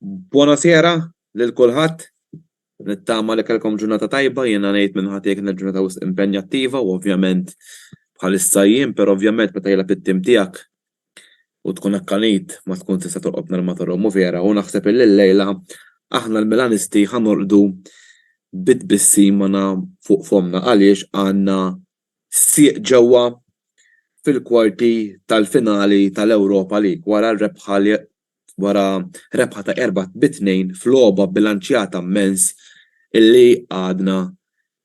Buonasera lil kulħadd. Nittama li kellkom ġurnata tajba, jiena ngħid minn ħati kienet ġurnata wisq impenjattiva u ovvjament bħalissa jien, però ovvjament meta jilgħab it-tim tiegħek u tkun akkanit ma tkun tista' torqod nhar ma torqod mhu vera u naħseb illi llejla aħna l-Milanisti ħa norqdu bi tbissima fuq fomna għaliex għandna Sieq ġewwa fil-kwarti tal-finali tal-Europa League wara rebħa ta' erba' bi tnejn f'logħba bbilanċjata mmens li għadha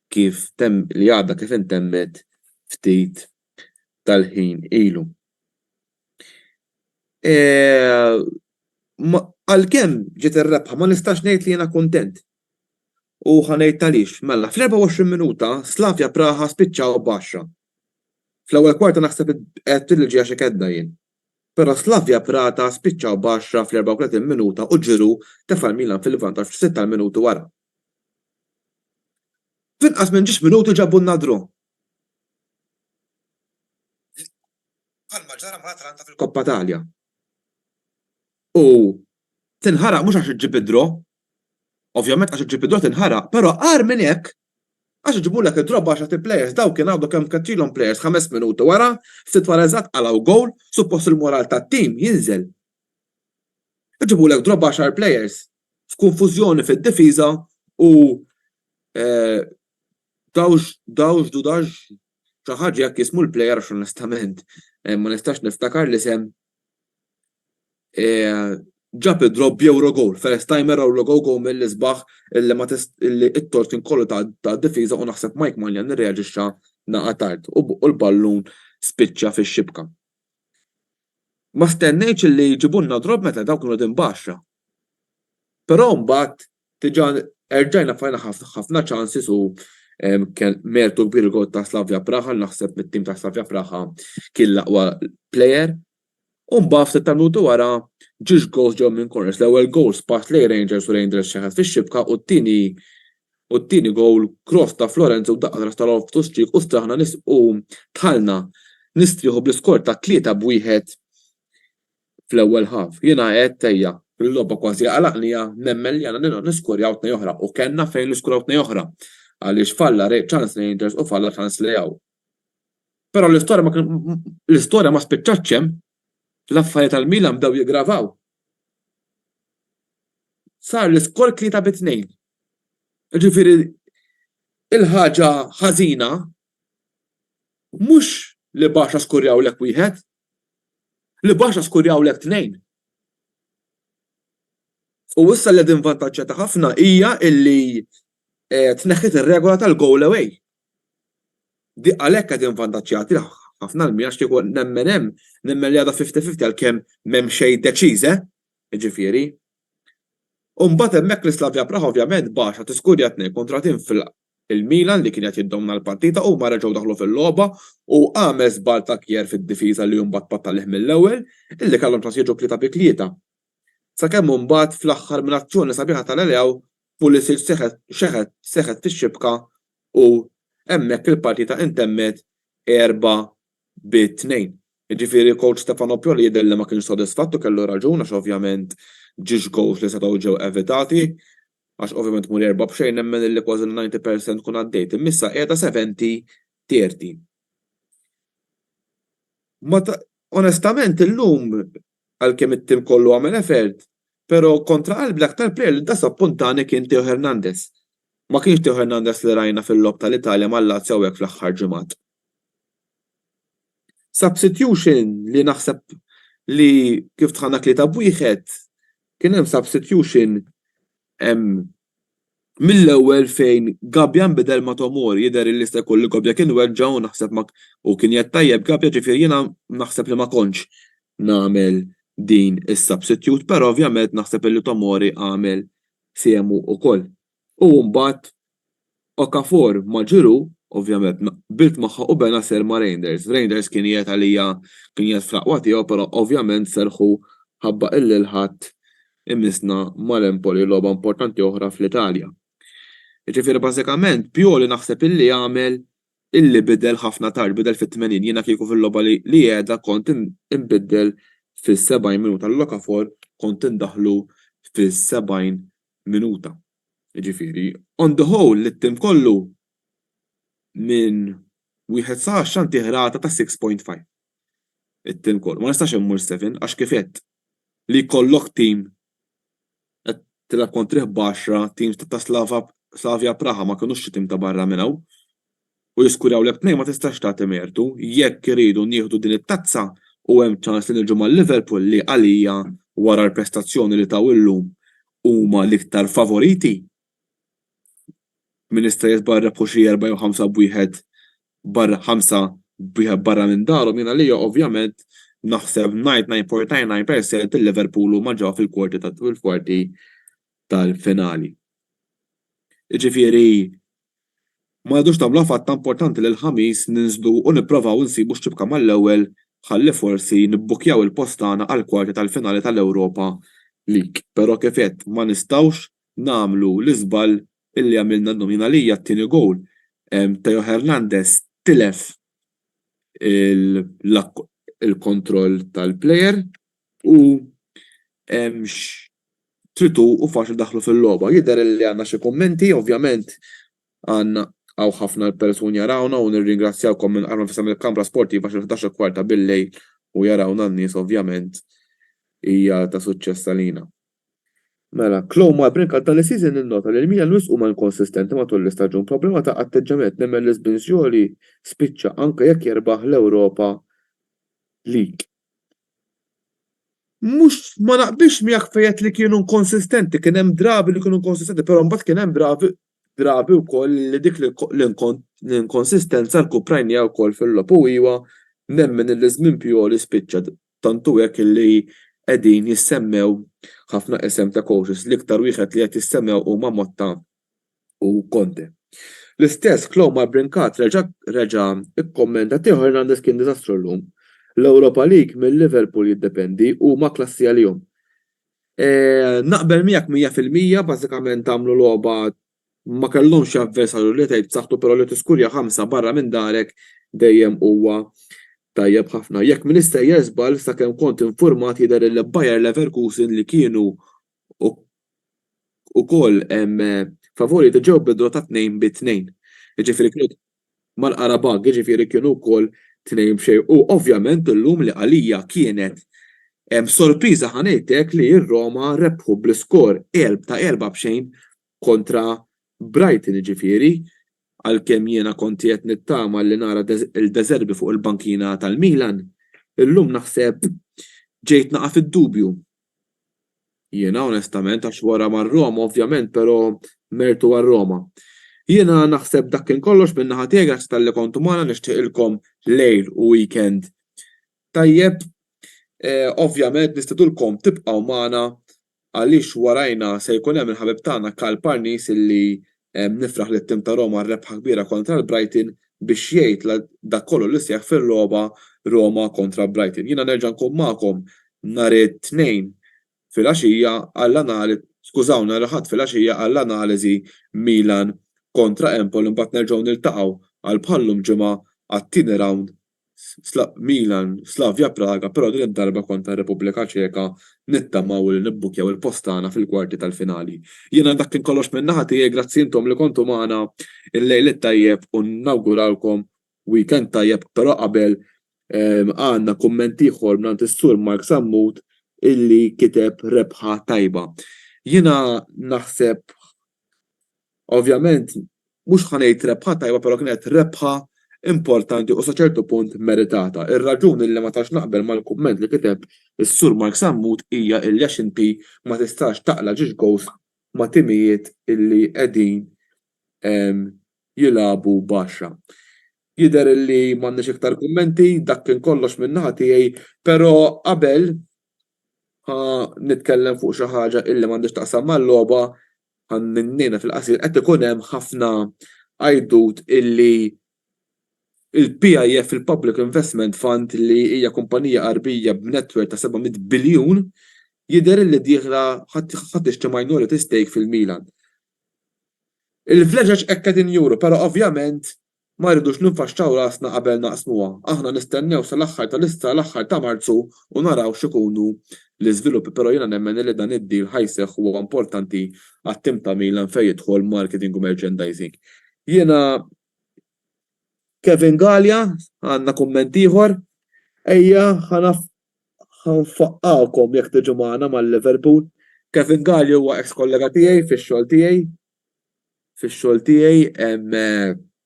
kif intemmet ftit tal-ħin ilu. Għalkemm ġiet ir-rebħa ma nistax ngħid li jiena kuntent U ħa ngħid għaliex. Mela, fl-24 minuta Slavia Praha spiċċaw b'għaxra. Fl-ewwel kwarta naħseb għedt li ġejja xi kedda jien. Però Slavia Prata spiċċaw b'għaxra fl-34 minuta u Giroud tefa' l-Milan fil-vantaġġ f'sitt tal-minuti wara. F'inqas minn ġiex minuti ġabulna draw. Bħalma ġara mal-Atalanta fil-Coppa Italia. U tinħaraq mhux għax iġġib id-draw, Ovvjament għax iġġib id-drawt inħaraq, però agħar minn hekk għax iġibulek id-drop b'għaxart il-players, dawl kien għadu kemm keċċilhom players ħames minuti wara, ftit wara eżatt qalgħu gowl, suppost il-moral tat-team jinżel. Iġibulek drop b'għaxar players, f'kunfużjoni fid-difiża u dawx, dawx, dudax, xi ħaġa hekk jismu l-player għax onestament ma nistax niftakar l-isem, Ġab id-draw b'Euro goal, first timer Euro goal goal mill-isbaħ illi ma illi t-torsin kollu tad-difiża u naħseb Mike Maignan irreaġixxa naqa' tard u l-ballun spiċċa fix-xibka. Ma stennejtx illi jġibulna draw meta dawk kienu qegħdin b'għaxra. Però mbagħad diġà erġajna fajna ħafna chances u kien mertu kbir il-goal ta' Slavia Praha, naħseb mit-tim ta' Slavia Praha kien l-aqwa player U mbagħad ftit tal-minuti wara, ġiex gowls ġew minn corners, l-ewwel gowl spass lejn Rangers u Rangers xeħet fix-xibka u t-tieni u t-tieni gowl cross ta' Florenzi u daqqa t'ras ta' Loftus Cheek u straħna u dħalna nistrieħu bl-iskor ta' 3 b' 1 fl-ewwel half. Jiena għedt ejja, il-logħba kważi għalaqnija, nemmen li għandna nilgħu niskorjaw tnej oħra u kellna fejn niskuraw tnej oħra għaliex falla ċans Rangers u falla ċans Leao. Però l-istorja ma spiċċatx hemm, l-affarijiet għal Milan bdew jiggravaw. Sar l-iskor tlieta bi tnejn. Jiġifieri l-ħaġa ħażina mhux li Barça skurjawlek wieħed, li Barça skurjawlek tnejn. U issa li qegħdin vantaġġjati ħafna hija li Tneħħiet ir-regola tal-goal away. Di għalhekk qed invvantaġġjat lil ħafna Almira għax kieku nemmen hemm, nemmen li għadha fifty fifty għalkemm m'hemm xejn deċiż eh! Jiġifieri. U mbagħad hemmhekk l-Slavia Praha ovvjament baxha tiskurja tnejn kontra tnejn fil-, il-Milan li kien qed jiddomna l-partita huma reġgħu daħlu fil-logħba u għamel żball ta' Kjaer fid-difiża li mbagħad pattalih mill-ewwel illi kellhom ċans jiġu tlieta bi tlieta. Sakemm mbagħad fl-aħħar minn azzjoni sabiħa ta' Leao Pulisic xeħet seħħet fix-xibka u hemmhekk il-partita intemmet erba' bi tnejn. Jiġifieri coach Stefano Pioli jidher li ma kienx sodisfatt u kellu raġun għax ovvjament ġiex goals li setgħu ġew evitati għax ovvjament muri erba' b'xejn nemmen illi kważi l-ninety percent tkun għaddejt imma issa qiegħda seventy, thirty. Ma onestament illum Għalkemm it-tim kollu għamel effort, pero' kontra qalbi l-aktar plejer li dasa puntane kien Theo Hernandez. Ma kienx Theo Hernandez li rajna fil-logħob tal-Italja mal-Lazio hawnhekk fl-aħħar ġimgħat. Substitution li naħseb li kif dħalna tlieta b'wieħed kien hemm substitution Mill-ewwel fejn Gabbia nbidel ma' Tomori jidher illi jista' jkun li Gobbia kien weġġa' u naħseb ma u kien jgħid tajjeb Gabbia ġifieri jiena naħseb li ma kontx nagħmel din is-substitute però ovvjament naħseb illi Tomori għamel fehmu ukoll. U mbagħad Okafor ma' Giroud, ovvjament, qbilt magħha u Benacer ma' Reijnders. Reijnders kien qiegħed għalija kien qiegħed fl-aqwa tiegħu però ovvjament serħu ħabba illil ħadd imissna mal-Empoli logħba importanti oħra fl-Italja. Jiġifieri bażikament Pioli naħseb illi għamel illi bidel ħafna tard, bidel fit-80. Jiena kieku fil-logħba li qiegħda kont inbiddel fis-70 minuta lil Okafor kont indaħħlu fis-70 minuta. Jiġifieri, on the whole, lit-tim kollu, minn wieħed sa għaxra ntih rata ta' six point five. It-tim kollu. Ma nistax immur seven għax kif għedt, li jkollok tim qed tilgħab kontrih b'għaxra, tim ta' Slavia Praha ma kinux xi tim ta' barra minn hawn, u jiskuraw li t-tnejn ma tistax tagħti mertu, jekk irridu nieħdu din it-tazza u hemm ċans li niġu ma' Liverpool li għalija wara l-prestazzjoni li taw illum huma l-iktar favoriti. Min jista' jisbaq rebħu xi erba' jew ħamsa b'wieħed barra ħamsa b'wieħed barra minn darhom jien għalija ovvjament naħseb 99.99 percent li Liverpool huma ġew fil-kwarti tal-finali. Jiġifieri Ma għadux tagħmlu affatto importanti li l-Ħamis ninżlu u nipprovaw insibu x'ċibka mal-ewwel ħalli forsi nibbukkjaw il-post tagħna għall-kwarti tal-finali tal-Europa League. Però kif għedt ma nistgħux nagħmlu l-iżball illi għamilna llum. Jien għalija t-tieni gowl Theo Hernandez tilef il-kontroll tal-player. U x'tritu u faċli daħlu fil-logħba. Jidher li għandna xi kummenti, ovvjament għandna hawn ħafna l-persuni jarawna u nirringrazzjawkom minn qalb nfisha mill-kamra sportiva xi ħdax u kwarta bil-lejl u jarawna n-nies ovvjament hija ta' suċċess għalina. Mela, Chloe Malbrin għal dan is-season innota li l-Milan wisq huma inkonsistenti matul l-istaġun, problema ta' atteġġjament nemmen li Sbinzioli spiċċa anke jekk jerbaħ l-Ewropa League. Mhux, ma naqbilx miegħek fejn qed li kienu inkonsistenti, kien hemm drabi li kienu inkonsistenti, però mbagħad kien hemm drabi drabi wkoll li dik l-inkonsistenza rkuprajnieha wkoll fil-logħob u iva, nemmen li ż-żmien Pioli spiċċa, tant hu hekk li qegħdin jissemmew ħafna isem ta' coaches, l-iktar wieħed li qed jissemmew huma Motta u Conte. L-istess Clomar Brincat reġa' reġa' kkommenta Theo Hernandez kien diżastru llum. L-Europa League minn Liverpool jiddependi huma klassi għalihom. Naqbel miegħek mija fil-mija bażikament għamlu logħba ma kellhomx avversarju li tgħid b'saħħtu però li tiskurja ħamsa barra minn darek dejjem huwa tajjeb ħafna. Jekk m'iniex sejjer żball sakemm kont infurmat jidher li Bayer Leverkusen li kienu ukoll favur li tiġew bidla ta' tnejn bi tnejn. Jiġifieri kienu mal-Qarabagh, jiġifieri kienu wkoll tnejn b'xejn. U ovvjament illum li għalija kienet sorpriża ħa ngħidlek li r-Roma rebħu bl-iskor ta' erbgħa b'xejn kontra Brighton jiġifieri għalkemm jiena kont qiegħed nittama li nara lil De Zerbi fuq il-bankina tal-Milan, illum naħseb ġejt naqa' fid-dubju. Jiena onestament għax wara mar Roma ovvjament pero mertu għal Roma. Jiena naħseb dak kien kollox minn naħa tiegħi grazzi talli kontu magħna nixtieqilkom lejl u weekend tajjeb ovvjament nistidulkom tibqgħu magħna għaliex warajna se jkun hemm il-ħabib tagħna Karl Parnis illi Nifraħ lit-tim ta' Roma għar-rebħa kbira kontra l-Brighton biex jgħid dak kollu li seħħ fil-logħba Roma kontra Brighton. Jiena nerġa' nkun magħkom nhar it-Tnejn filgħaxija għall-anal skużawni nhar il-Ħadd filgħaxija għall-analiżi Milan kontra Empoli mbagħad nerġgħu niltaqgħu għal bħal-lum ġimgħa għat-tieni rawnd Milan, Slavia Praga però din id-darba kontra r-Repubblika Ċeka nittamaw li nibbukkjaw il-post tagħna fil-kwarti tal-finali. Jiena dak kien kollox minn naħa tiegħi grazzi intom li kontu magħna il-lejl it-tajjeb u nawguralkom weekend tajjeb però qabel għandna kumment ieħor mingħand is-Sur Mark Sammut illi kiteb rebħa tajba. Jiena naħseb Ovvjament, mhux ħa ngħid rebħa tajba però kienet rebħa importanti u sa ċertu punt meritata. Ir-raġuni li ma tantx naqbel mal-kumment li kiteb is-Sur Mark Sammut hija illi għax inti ma tistax taqla' ġiex gowż ma' timijiet illi qegħdin jilagħbu b'għaxra. Jidher illi m'għandniex iktar kummenti, dak kien kollox min-naħa tiegħi, però qabel ħa nitkellem fuq xi ħaġa illi m'għandhiex taqsam mal-logħba, Ħannejna fil-qasir qed ikun hemm ħafna għajdut illi il-PIF, il-Public Investment Fund, li hija kumpanija Għarbija b'netwerk ta' 700 biljun, jidher illi dieħla ħa tixtri minority stake fil-Milan. Il-vleġeġ hekk qegħdin juru, però ovvjament Ma rridux ninfaxxaw rasna qabel naqsmuha. Aħna nistennew sal-aħħar ta' l-issa l-aħħar ta' Marzu u naraw x'ikunu l-iżviluppi però jiena nemmen illi dan id-deal ħa jseħħ huwa importanti għat-tim ta' Milan fejn jidħol marketing u merchandising. Jiena Kevin Galea għandna kumment ieħor? Ejja ħa nfaqqgħukom jekk tiġu magħna mal-Liverpool. Kevin Galea huwa eks-kollega tiegħi fix-xogħol tiegħi. fix-xogħol tiegħi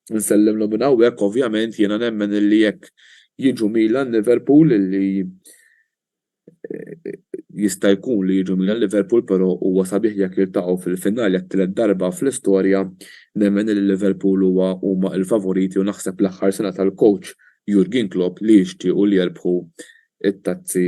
nsellmlhom minn hawnhekk ovvjament jiena nemmen illi jekk jiġu Milan Liverpool illi jista' jkun li jiġu Milan Liverpool però huwa sabiħ jekk jiltaqgħu fil-finali għat-tielet darba fl-istorja nemmen illi Liverpool huwa huma l-favoriti u naħseb l-aħħar sena tal-coach Jurgen Klopp li jixtiequ li jerbħu t-tazzi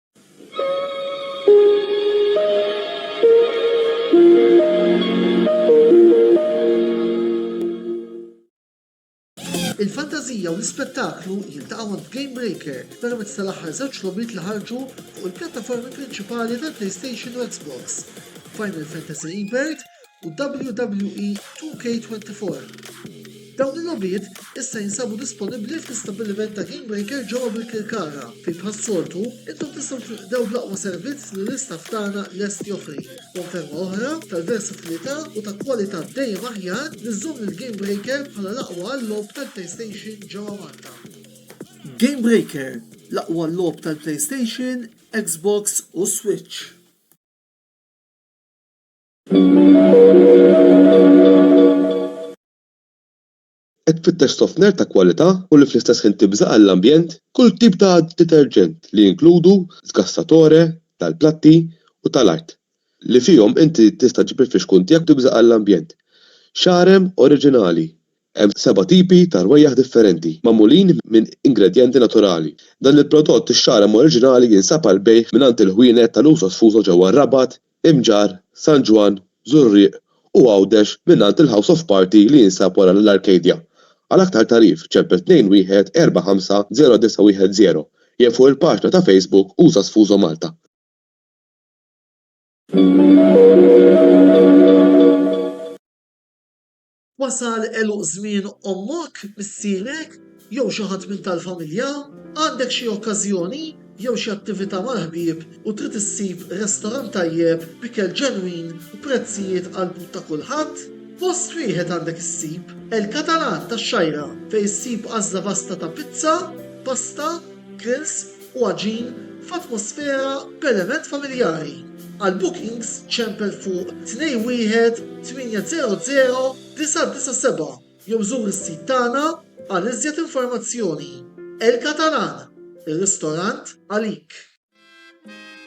Il-fantażija u l-ispettaklu jiltaqgħu għand Game Breaker permezz tal-aħħar żewġ logħbiet li ħarġu fuq il-pjattaformi prinċipali tal-PlayStation u Xbox, Final Fantasy Rebirth u WWE 2K24. Dawn il-logħbiet issa jinsabu disponibbli fl-istabbiliment ta' GameBreaker ġewwa Birkirkara, fejn bħas-soltu, intom tistgħu tinqdew bl-aqwa servizz li l-istaff tagħna lest joffri. Konferma oħra tal-versatilità u ta' kwalità dejjem aħjar li żżomm lil GameBreaker bħala l-aqwa għal-logħob tal-PlayStation ġewwa Malta. GameBreaker, l-aqwa logħob tal-PlayStation, Xbox u Switch. Qed tfittex sofner ta' kwalità u li fl-istess ħin tibża' għall-ambjent? Kull tip ta' deterġent li jinkludu sgassatore tal-platti u tal-art li fihom inti tista' ġġib il-fixkun tiegħek u tibża' għall-ambjent. Xarem oriġinali. Hemm seba' tipi ta' rwejjaħ differenti, magħmulin minn ingredjenti naturali. Dan il-prodott ix-xarem oriġinali jinsab għall-bejgħ mingħand il-ħwienet tal-uso sfuso ġewwa r-Rabat, Imġarr, San Ġwann, Żurrieq u Għawdex mingħand il-House of Party li jinsab wara l-Arcadia. Għal aktar tagħrif, ċempel 21 45 0910 jew fuq il-paġna ta' Facebook Usa Sfuso Malta. Wasal għeluq żmien ommok, missierek, jew xi ħadd minn tal-familja? Għandek xi okkażjoni jew xi attività mal-ħbieb u trid issib restorant tajjeb b'ikel ġenwin u prezzijiet għall-but ta' kulħadd? Post wieħed għandek issib, El Catalan tax-Xgħajra, fejn issib għażla vasta ta' pizza, pasta, grills, u għaġin f'atmosfera b'element familjari. Għal bookings ċempel fuq 218009997 jew żur is-sit tagħna għal iżjed informazzjoni. El Catalan, ir-ristorant għalik!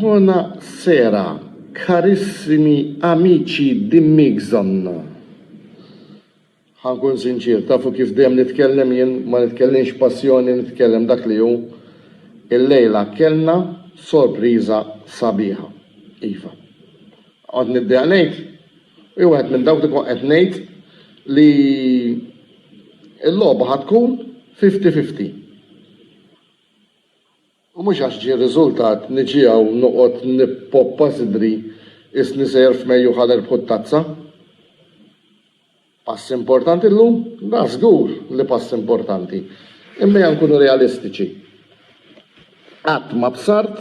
Bona sera, karissimi amici di Migson. Ħankun sinċier, tafu kif dejjem nitkellem jien, ma nitkellimx passjoni, nitkellem dak li hu. Illejla kellna sorpriża sabiħa. Iva. Kont nibdea ngħid, u jew wieħed minn dawk li kont qed ngħid li l-logħba ħa tkun fifty fifty. U mhux għax ġie r-riżultat niġi hawn noqgħod nippoppa sidri qisni sejjer f'Mejju ħa nerbħu t-tazza. Pass importanti llum? Da żgur li pass importanti. Imma ejja nkunu realistiċi. Qatt ma bsart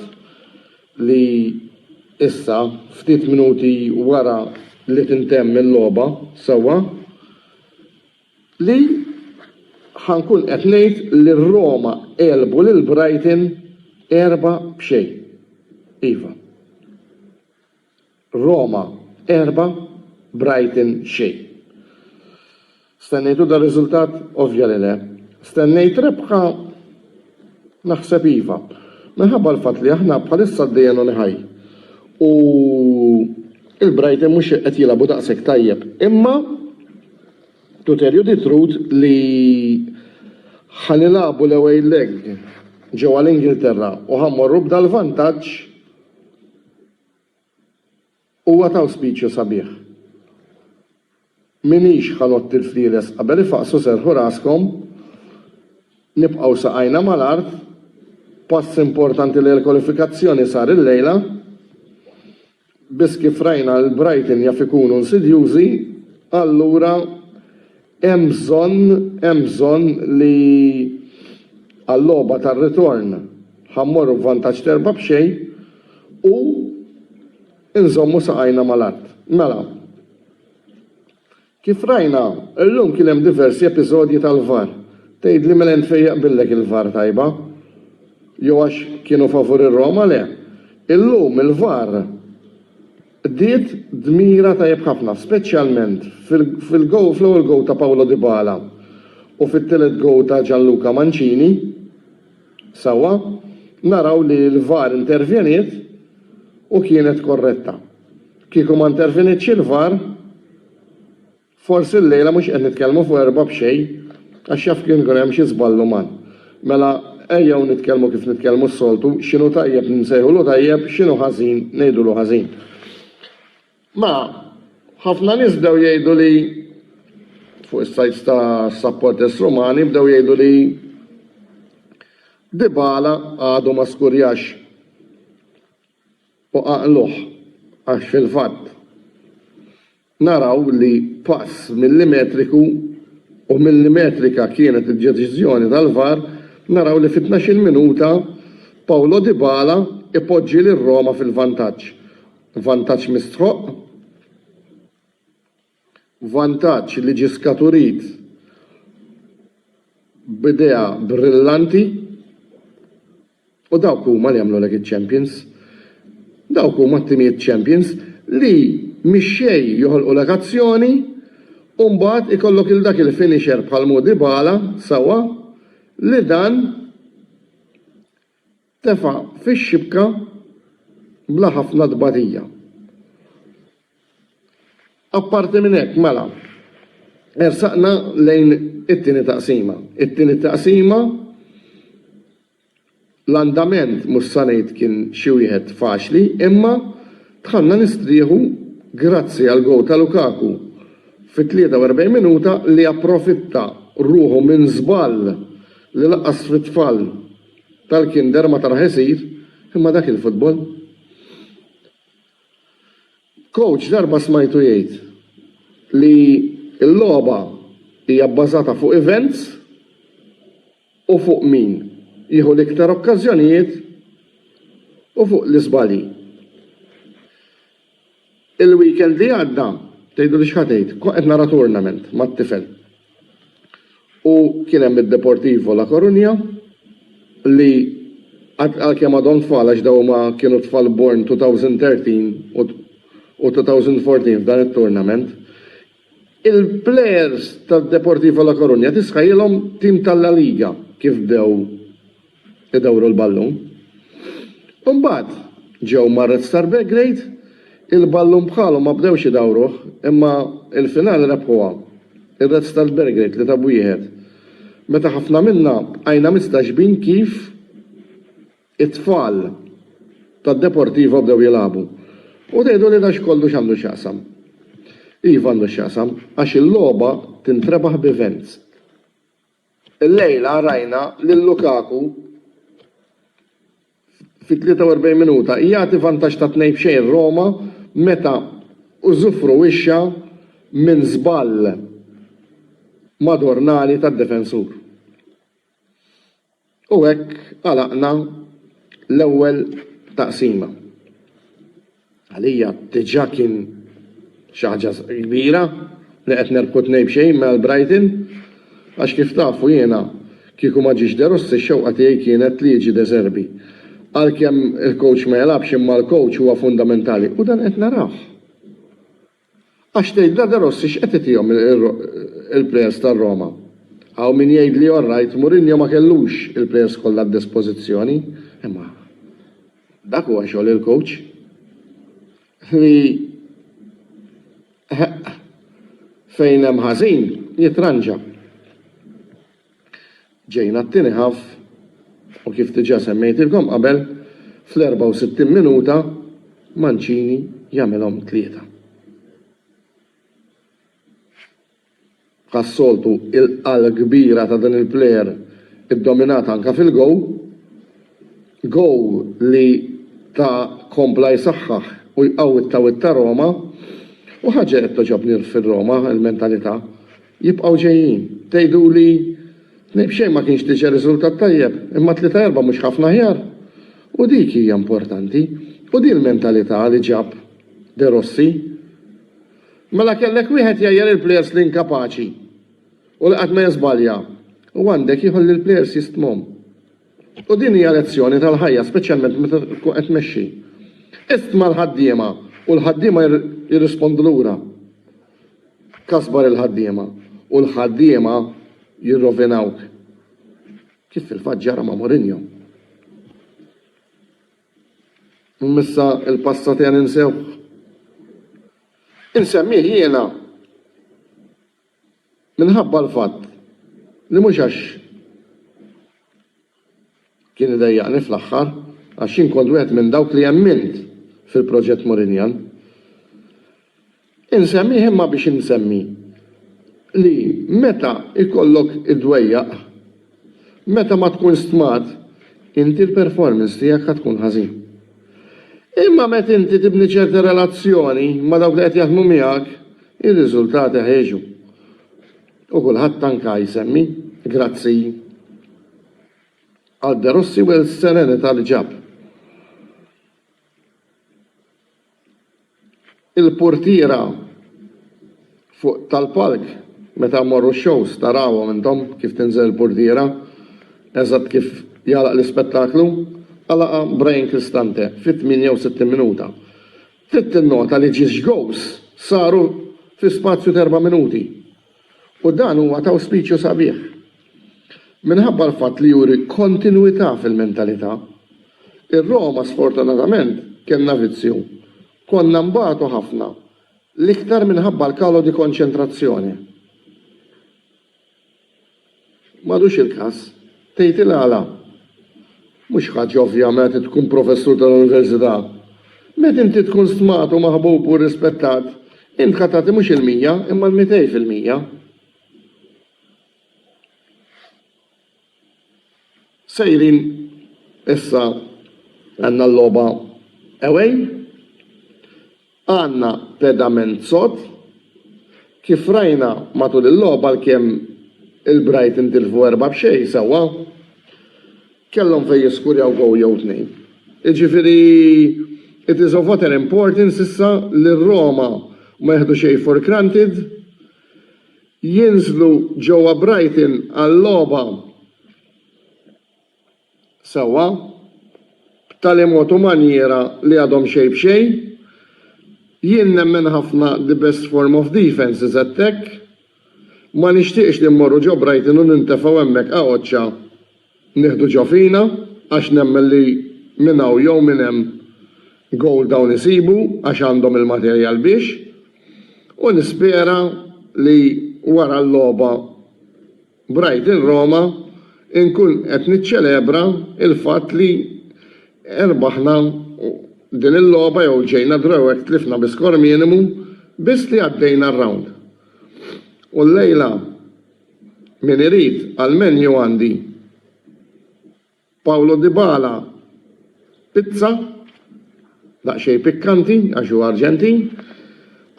li issa ftit minuti wara li tintemm il-logħba sewwa li ħankun qed ngħid li r-Roma għelbu lil Brighton erba' b'xejn. Iva. Roma, erba', Brighton, xejn. Stennejtu dar-riżultat? Ovvja li le. Stennejt rebħa? Naħseb iva. Minħabba l-fatt li aħna bħalissa għaddejja non high u il-Brighton mhux qed jilagħbu daqshekk tajjeb. Imma to tell you the truth li ħa nilagħbu l-away leg ġewwa l-Ingilterra u ħa mmorru b'dal-vantaġġ, Huwa ta' awspiċju sabiħ. M'iniex ħa notti l-flieles qabel ifaqqsu serrħu raskom, nibqgħu saqajna mal-art, pass importanti lejn il-kwalifikazzjoni sar illejla, biss kif rajna l-Brighton jaf ikunu nsidjużi, allura, Hemm bżonn, hemm bżonn li għal-logħba tar-ritorn ħa mmorru b'vantaġġ t'erbgħa b'xejn u nżommu saqajna mal-art. Mela, kif rajna, illum kien hemm diversi episodji tal-VAR. Tgħidli mela int fejn jaqbillek il-VAR tajba? Jew għax kienu favur ir-Roma? Le. Illum il-VAR. Qdiet dmira tajjeb ħafna, speċjalment fil-gowl fl-ewwel gowl ta' Paulo Dybala u fit-tielet gowl ta' Gianluca Mancini. Sewwa naraw li l-VAR intervjeniet u kienet korretta. Kieku ma intervjenietx il-VAR, Forsi llejla mhux qed nitkellmu fuq erba' b'xejn għax jaf kien ikun hemm xi żball uman. Mela ejjew nitkellmu kif nitkellmu s-soltu, x'inhu tajjeb nsejħulu tajjeb, x'inhu ħażin ngħidulu ħażin. Ma, ħafna nies bdew jgħidu li fuq is-sajts ta' supporters Rumani bdew jgħidu li Dybala għadu ma skurjax u qaqluh għax fil-fatt Naraw li pass millimetriku, u millimetrika kienet id-deċiżjoni tal-VAR, naraw li fit-tnax-il minuta Paulo Dybala ipoġġi lil Roma fil-vantaġġ. Vantaġġ mistħoqq, vantaġġ li ġie skaturit b'idea brillanti, U dawk huma li jagħmlulek iċ-champions. Dawk huma t-timijiet champions li mix-xejn joħolqulek azzjoni u mbagħad ikollok lil dak il-finisher bħal Mo Dybala, sewwa, li dan tefa' fix-xibka bla ħafna tbatija. Apparti minn hekk, mela, ersaqna lejn it-tieni taqsima. It-tieni taqsima l-andament mhux sa ngħid kien xi wieħed faċli imma dħalna nistrieħu grazzi għal gowl ta' Lukaku fit-43 minuta li approfitta ruħu minn żball li lanqas fit-tfal tal-kinder ma taraħ isir imma dak il-futbol. Coach darba smajtu jgħid li l-logħba hija bbażata fuq events u fuq min jieħu l-iktar okkażjonijiet u fuq l-iżbalji. Il-weekend li għadda, tgħiduli x'ħa tgħid, kont qed nara tournament mat-tifel. U kien hemm id-Deportivo La Coruña li għalkemm għadhom tfal għax dawn huma kienu tfal born 2013 u 2014 f'dan it-tournament, il-players tad-Deportivo La Coruña tisħailhom tim tal-La Liga kif bdew idawru l-ballun. Imbagħad ġew mar-Red Star Belgrade, il-ballun bħalhom ma bdewx idawruh imma l-finali rebħuha r-Red Star Belgrade tlieta b'wieħed meta ħafna minna bqajna mistaġbin kif it-tfal tad-Deportivo bdew jilagħbu. U tgħidu li dan x'kollu x'għandu x'jaqsam. Iva għandu x'jaqsam għax il-logħba tintrebaħ b'events. Illejla rajna lil Lukaku fit-43 minuta jagħti vantaġġ ta' tnejn f'xejn Roma meta użufruwixxa minn żball madornali tad-difensur. U hekk għalaqna l-ewwel taqsima. Għalija diġà kien xi ħaġa kbira li qed nerbħu tnejn b'xejn minn Brighton għax kif tafu jiena kieku ma ġiex De Rossi x-xewqa tiegħi kienet li jiġi De Zerbi. Għalkemm il-kowċ ma jilgħabx imma l-kowċ huwa fundamentali u dan qed narawh. Għax tgħidilha De Rossi x'qed itihom il-plejers tar-Roma? Hawn min jgħid li all right, Mourinho ma kellux il-plejers kollha għad-dispożizzjoni, imma dak huwa xogħol il-coach li fejn hemm ħażin jitranġa. Ġejna għat-tieni half u kif diġà semmejtilkom qabel, fl-64 minuta Mancini jagħmilhom tlieta. Bħas-soltu il-qal kbira ta' din il-player iddominat anke fil-goal. Goal li ta kompla jsaħħaħ u jqawwi t-tawwil ta' Roma u ħaġa qed togħġobni fir-Roma il-mentalità Jibqgħu ġejjin. Tgħiduli, Tnejn b'xejn ma kienx diġà riżultat tajjeb, imma tlieta erba' mhux ħafna aħjar? U dik hija importanti. U din il-mentalità li ġab De Rossi. Mela kellek wieħed jgħajjar il-plejers l-inkapaċi u li qatt ma jiżbalja u għandek ieħor li l-plejers jistmhom. U din hija lezzjoni tal-ħajja speċjalment meta tkun qed tmexxi. Istma' l-ħaddiema u l-ħaddiema jirrispondu lura. Kasbar il-ħaddiema u l-ħaddiema jirrovinawk. Kif fil-fatt ġara ma' Mourinho. Imma issa il-passat qiegħ ninsewh. Insemmih jiena minħabba l-fatt li mhux għax Kien idejjaqni fl-aħħar għax jien kont wieħed minn dawk li emmint fil-proġett Mourinhian. Insemmih imma biex insemmi li meta jkollok iddwejjaq, meta ma tkun stmat, inti l-performance tiegħek ħa tkun ħażin. Imma meta inti tibni ċerta relazzjoni ma' dawk li qed jaħdmu miegħek, ir-riżultati ħa jiġu. U kulħadd anka jsemmi grazzi għal De Rossi u l-serenità li ġab. Il-portiera fuq tal-palk meta mmorru x-shows tarawhom intom kif tinżel il-portiera eżatt kif jagħlaq l-ispettaklu, għalaqha Brian Cristante fit-68 minuta. Trid tinnota li ġiex goals saru fi spazju t'erba' minuti u dan huwa ta' awspiċju sabiħ. Minħabba l-fatt li juri kontinwità fil-mentalità, ir-Roma sfortunatament kellna vizzju, konna nbatu ħafna, l-iktar minħabba l-calo di concentrazione. M'għadux il-każ. Tgħid il-għala? Mhux ħaġa ovvja meta inti tkun professur tal-università. Meta inti tkun stmat u maħbub u rrispettat, int ħa tagħti mhux il-mija, imma l-mitej fil-mija. Sejrin issa għandna l-logħba away. Għandna pedament sod. Kif rajna matul il-logħob għalkemm il-Brighton tilfu erba' b'xejn sewwa, kellhom fejn jiskurjaw goal jew tnejn. Jiġifieri it is of utter importance issa li r-Roma ma jieħdu xejn for granted, jinżlu ġewwa Brighton għal logħba sewwa, b'tali mod u manjiera li għadhom xejn b'xejn. Jien nemmen ħafna the best form of defence is attack. Ma nixtieqx li mmorru ġo Brighton u nintefgħu hemmhekk għaqoċċa nieħdu ġo fina għax nemmen li minn hawn jew minn hemm goal dawn isibu għax għandhom il-materjal biex. U nispera li wara l-logħba B'Ride in Roma nkun qed niċċelebra l-fatt li rbaħna din il-logħba jew ġejna draw hekk tlifna bi skor minimu biss li għaddejna r-round. U llejla min irid għall-menu għandi. Paulo Dybala, Pizza, daqsxejn pikkanti għax hu Arġentin.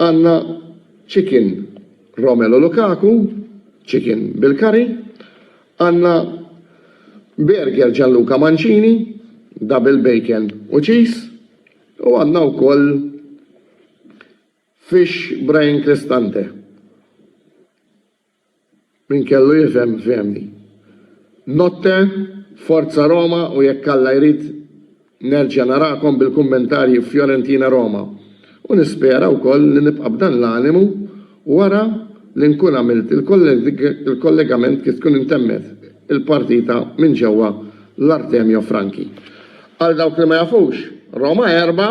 Għandna Chicken, Romelu Lukaku, Chicken bil-curry. Għandna Burger Gianluca Mancini, Double Bacon u Cheese. U għandna wkoll Fish Brian Cristante. Min kellu jifhem fehmni. Notte, forza Roma u jekk Alla jrid nerġa' narakom bil-kummentarji f'Fiorentina Roma u nispera wkoll li nibqa' b'dan l-animu wara li nkun għamilt il-kollegament kif tkun intemmet il-partita minn ġewwa l-Artemio Franchi. Għal dawk li ma jafux, Roma erbgħa,